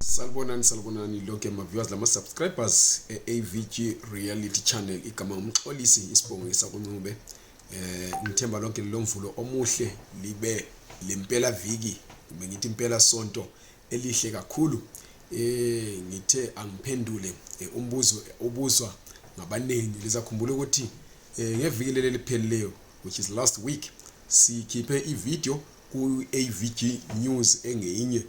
Salibonani salibonani lonke ama viewers lama subscribers e AVG Reality Channel igama umxolisi isibongo esakuncube eh ngithemba lonke lomvulo omuhle libe lempela viki kumbe ngithi impela sonto elihle kakhulu eh ngithe angiphendule eh, umbuzo ubuzwa ngabaningi lizakhumbula ukuthi eh, ngeviki leli liphelileyo which is last week sikhiphe ivideo ku AVG News engeyinye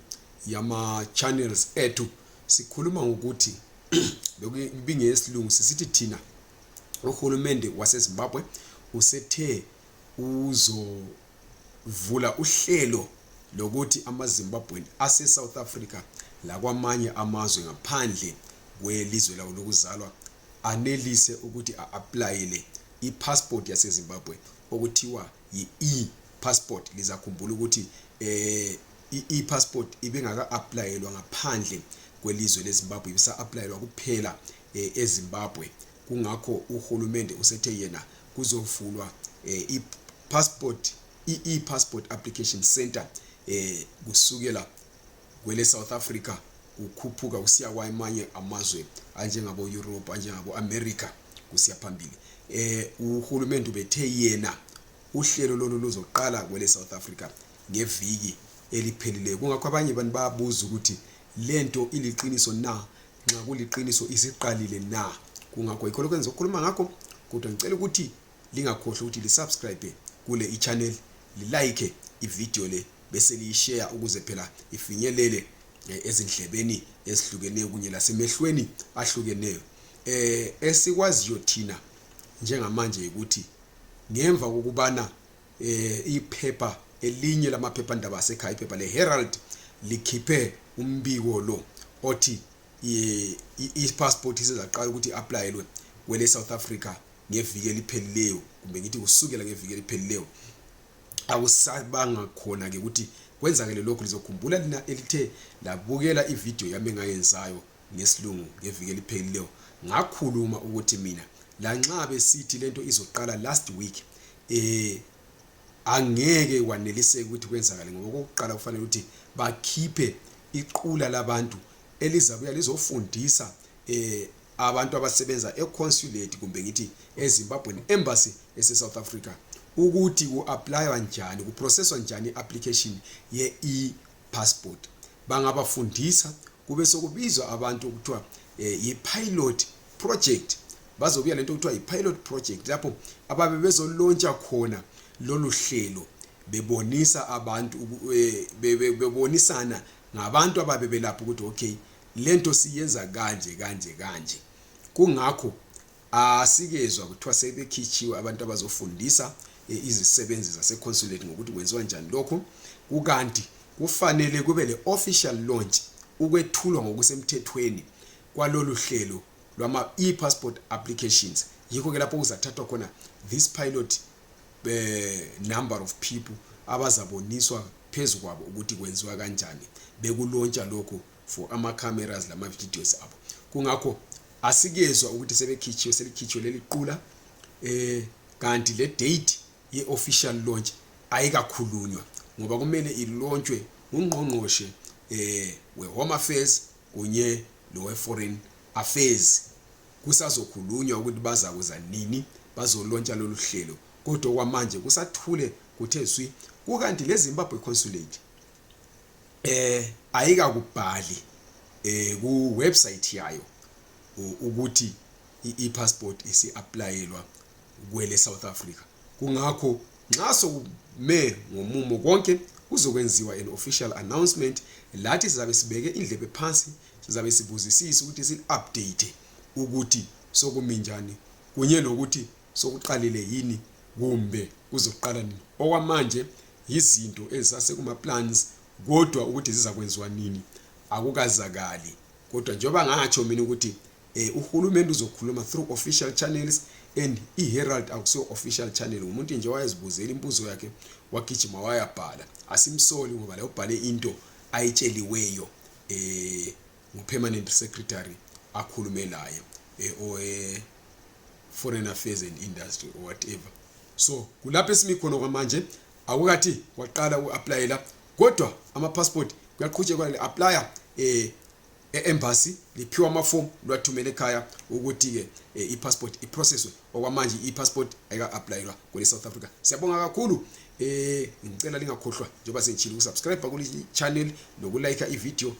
yama channels ethu sikhuluma ngokuthi bekubinge yesilungu sisithi thina uhulumende wasezimbabwe usethe uzovula uhlelo lokuthi amazimbabweni asesouth africa lakwamanye amazwe ngaphandle kwelizwe lawo lokuzalwa anelise ukuthi a-aplayele i-passport yasezimbabwe okuthiwa yi-e passport lizakhumbula ukuthi um i-passport ibingaka-aplayelwa ngaphandle kwelizwe lezimbabwe ibisa-aplayelwa kuphela um ezimbabwe kungakho uhulumende usethe yena kuzovulwa um i-passport i-e-passport application center um kusukela kwele-south africa kukhuphuka kusiya kwamanye amazwe anjengabo-europe anjengabo-america kusiya phambili um uhulumende ubethe yena uhlelo lolu luzoqala kwele-south africa ngeviki eliphelileyo kungakho abanye abantu bayabuza ukuthi le nto iliqiniso na nxa kuliqiniso isiqalile na kungakho yikho lokho engizokhuluma ngakho kodwa ngicela ukuthi lingakhohlwa ukuthi lisubscribe kule ichannel lilike ividiyo le bese liyisheya ukuze phela ifinyelele eh, ezindlebeni ezihlukeneyo kunye lasemehlweni ahlukeneyo eh esikwaziyo thina njengamanje ukuthi ngemva kokubana eh iphepha elinye lamaphephandaba asekhaya iphepha leHerald likhiphe umbiko lo othi i-passport isezaqala ukuthi i-aplayelwe kwele South Africa ngeviki eliphelileyo kumbe ngithi kusukela ngeviki eliphelileyo akusabanga khona ke ukuthi kwenzakele lokhu lizokhumbula lina elithe labukela ividiyo yami engayenzayo ngesilungu ngeviki eliphelileyo ngakhuluma ukuthi mina lanxa besithi lento izoqala last week eh angeke kwaneliseka ukuthi kwenzakale ngoba okokuqala kufanele ukuthi bakhiphe iqula labantu elizabuya lizofundisa eh abantu abasebenza econsulate kumbe ngithi eZimbabwean embassy ese South Africa ukuthi ku applywa njani ku processwa njani application ye e passport bangabafundisa kube sokubizwa abantu okuthiwa eh, yi-pilot project bazobuya lento okuthiwa yi-pilot project lapho ababe bezolontsha khona lolu hlelo bebonisa abantu eh, bebonisana ngabantu ababe belapho ukuthi okay lento siyenza kanje kanje kanje kungakho asikezwa kuthiwa sebekhitshiwe abantu abazofundisa e, izisebenzi zaseconsulate ngokuthi kwenziwa njani lokhu kukanti kufanele kube le-official launch ukwethulwa ngokusemthethweni kwalolu hlelo lwama-e-passport applications yikho-ke lapho kuzathathwa khona this pilot eh, number of people abazaboniswa phezu kwabo ukuthi kwenziwa kanjani bekulontsha lokhu for ama-cameras lama-videos abo kungakho asikezwa ukuthi sebekhitshiwe selikhitshiwe leli qula eh kanti le date ye-official launch ayikakhulunywa ngoba kumele ilontshwe ngungqongqoshe eh we-home affairs kunye lowe-foreign affairs kusazokhulunywa ukuthi bazakuza nini bazolontsha lolu hlelo kodwa kwamanje kusathule kuthe zwi kukanti le zimbabwe consulate eh ayikakubhali eh ku website yayo ukuthi i-passport isi-aplayelwa kwele South Africa kungakho nxa sokume ngomumo konke kuzokwenziwa an official announcement lathi sizabe sibeke indlebe phansi sizabe sibuzisisa ukuthi si-update ukuthi sokuminjani kunye lokuthi sokuqalile yini kumbe kuzoqala nini okwamanje yizinto ezisasekuma-plans kodwa ukuthi zizakwenziwa nini akukazakali kodwa njengoba ngatsho mina ukuthi um uhulumende uzokhuluma through official channels and i-herald akusiyo official channel ngumuntu nje wayezibuzela imbuzo yakhe wagijima wayabhala asimsoli ngoba la ubhale into ayitsheliweyo um ngu-permanent secretary akhulume laye eh, owe-foreign affairs and industry or whatever so kulapho esimi khona kwamanje akukathi waqala uku-aplayela kodwa ama-passport kuyaqhutshekwa li-aplaya um eh, e-embassy liphiwa amafomu liwathumela ekhaya ukuthi-ke um i-passport iprocesswe okwamanje i-passport ayika-aplayelwa kwele south africa siyabonga kakhulu um ngicela lingakhohlwa njengoba sengitshile ukusubscribe kuli-channel nokulayikha ividiyo